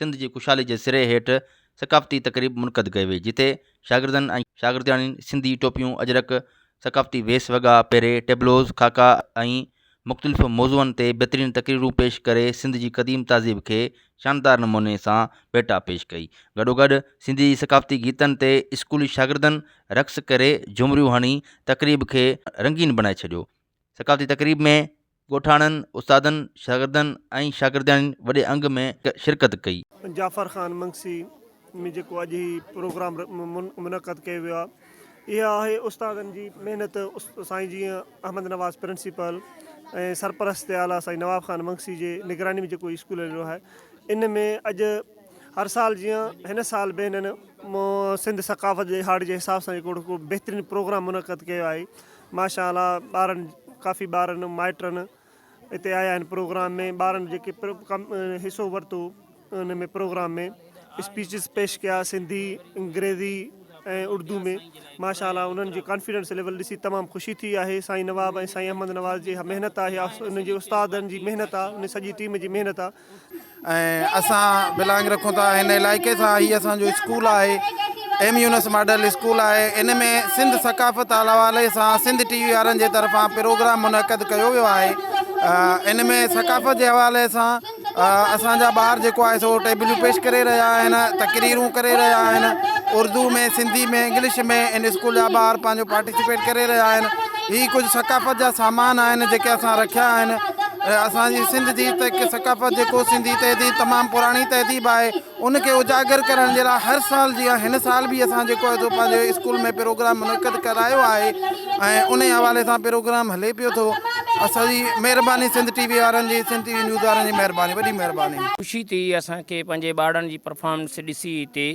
سنڌ جي خوشحالي جي سري هيٺ ثقافتي تقريب منعقد ڪئي وئي جتي شاگردن ۽ شاگردياڻين سنڌي ٽوپيون اجرڪ ثقافتي ويس وڳا پهري ٽيبلوز خاڪا ۽ مختلف موضوعن تي بھترين تقريرون پيش ڪري سنڌ جي قديم تهذيب کي شاندار نموني سان ڀيٽا پيش ڪئي گڏوگڏ سنڌي ثقافتي گيتن تي اسڪولي شاگردن رقص ڪري جهومريون هڻي تقريب کي رنگين بڻائي ڇڏيو ثقافتي تقريب ۾ ڳوٺاڻن، استادن، شاگردن ۽ شاگردياڻين وڏي انگ ۾ شرڪت ڪئي. جعفر خان منگسي ۾ جيڪو اڄ هي پروگرام منعقد ڪيو ويو آهي اها آهي استادن جي محنت سائين جي احمد نواز پرنسپل ۽ سرپرست اعليٰ سائين نواب خان منگسي جي نگراني ۾ جيڪو هي اسڪول هليو آهي ان ۾ اڄ هر سال جيان هن سال به هنن سنڌ ثقافت ڏهاڙي جي حساب سان جيڪو بهترين پروگرام منعقد ڪيو آهي ماشاء الله ٻارن ڪافي ٻارن مائٽن اتي آيا آهن پروگرام ۾ ٻارن جيڪي حصو ورتو ان ۾ پروگرام ۾ اسپيچز پيش ڪيا سنڌي انگريزي ۽ اردو ۾ ماشاء الله انهن جي ڪانفيڊنس ليول ڏسي تمام خوشي ٿي آهي سائين نواب ۽ سائين احمد نواز جي محنت آهي ان جي استادن جي محنت آهي ان سڄي ٽيم جي محنت آهي ۽ اسان بلانگ رکون ٿا هن علائقي سان هي اسان جو اسڪول آهي ايم يونس ماڊل اسڪول آهي ان ۾ سنڌ ثقافت حوالي سان سنڌ ٽي وي وارن جي طرفان پروگرام منعقد ڪيو ويو آهي ان ۾ ثقافت جي حوالي سان اسانجا ٻار جيڪو آهي سو ٽيبليون پيش ڪري رهيا آهن تقريرون ڪري رهيا آهن اردو ۾ سنڌي ۾ انگلش ۾ ان اسڪول جا ٻار پنهنجو پارٽيسپيٽ ڪري رهيا آهن هي ڪجهه ثقافت جا سامان آهن جيڪي اسان رکيا آهن اسان جي سنڌ جي ثقافت جيڪو سنڌي تهذيب تمام پراڻي تهذيب آهي ان کي اجاگر ڪرڻ جي لاء هر سال جي هن سال به اسان جيڪو آهي سو پنهنجي اسڪول ۾ پروگرام منعقد ڪرايو آهي ۽ ان حوالي سان پروگرام هلي پيو ٿو اسان جي مهرباني سنڌ ٽي وي وارن جي سنڌ ٽي وي نيوز وارن جي مهرباني وڏي مهرباني خوشي ٿي اسان کي پنهنجي ٻارڙن جي پرفارمنس ڏسي هتي.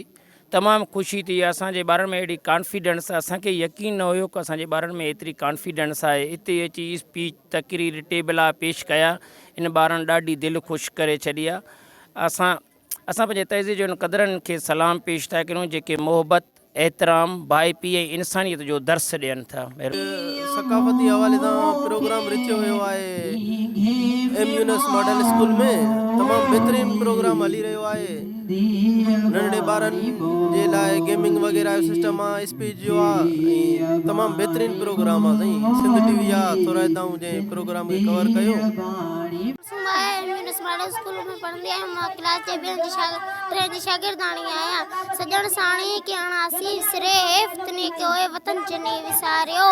تمام خوشي ٿي اسان جي ٻارن ۾ اهڙي ڪانفيڊنس اسان کي يقين نه هيو ڪو اسان جي ٻارن ۾ ايتري ڪانفيڊنس آهي اتي اچي اسپيچ تقرير ٽيبلا پيش ڪيا ان ٻارن ڏاڍي دل خوش ڪري ڇڏي آ اسان اسان پنهنجي تهذيب جو ان قدرن کي سلام پيش ٿا ڪريون جيڪي محبت احترام ڀائپي ۽ انسانيت جو درس ڏين ٿا. ثقافتي حوالي سان پروگرام رٿيو ويو آهي ايم يونس ماڊل اسڪول ۾ تمام بهترين پروگرام هلي رهيو آهي. ننڍڙي ٻارن جي لاء گيمنگ وغيره جو سسٽم آ ايس پي جيو آ ۽ تمام بهترين پروگرام آ سائين سنڌ ٽي وي آ ٿورائتائون جنهن پروگرام کي ڪور ڪيو. سومو آء ايم يونس ماڊل اسڪول ۾ پڙهندي آهيان مان ڪلاس جي ٻين جي ٽين جي شاگردياڻي آهيان سڄڻ ساڻي ڪي اڻاسي سري هيف تني ڪي اوهي وطن چني وساريو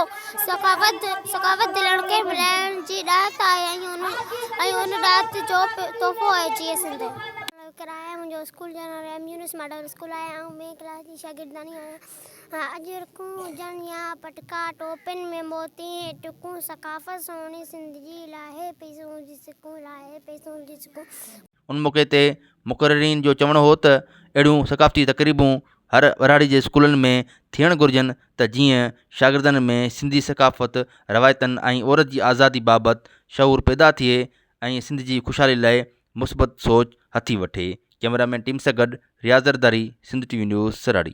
سخاوت سخاوت دلن کي ملائڻ جي ڏات آهي ۽ ان ڏات جو تحفو آهي جيئي سنڌ. ڪرايا منهنجو اسڪول جو نالو ايم يونس ماڊل اسڪول آهي آئون ٻين ڪلاس جي شاگردياڻي آهيان اڄ رڪون هجن يا پٽڪا ٽوپين ۾ موتي ۽ ٽڪون ثقافت سهڻي سنڌ جي لاهي پيسون جي سڪون لاهي پيسون جي سڪون. ان موقعي تي مقررين جو چوڻ هو ته اهڙيون ثقافتي تقريبون هر ٻهراڙي جي اسڪولن ۾ ٿيڻ گهرجن ته جيئن شاگردن ۾ سنڌي ثقافت، روايتن ۽ عورت جي آزادي بابت شعور پيدا ٿئي ۽ سنڌ جي خوشحالي لاء مثبت سوچ هٿي وٺي، ڪئميرا مين ٽيم سان گڏ Riaz Zardari, Sindh T V news سراڙي.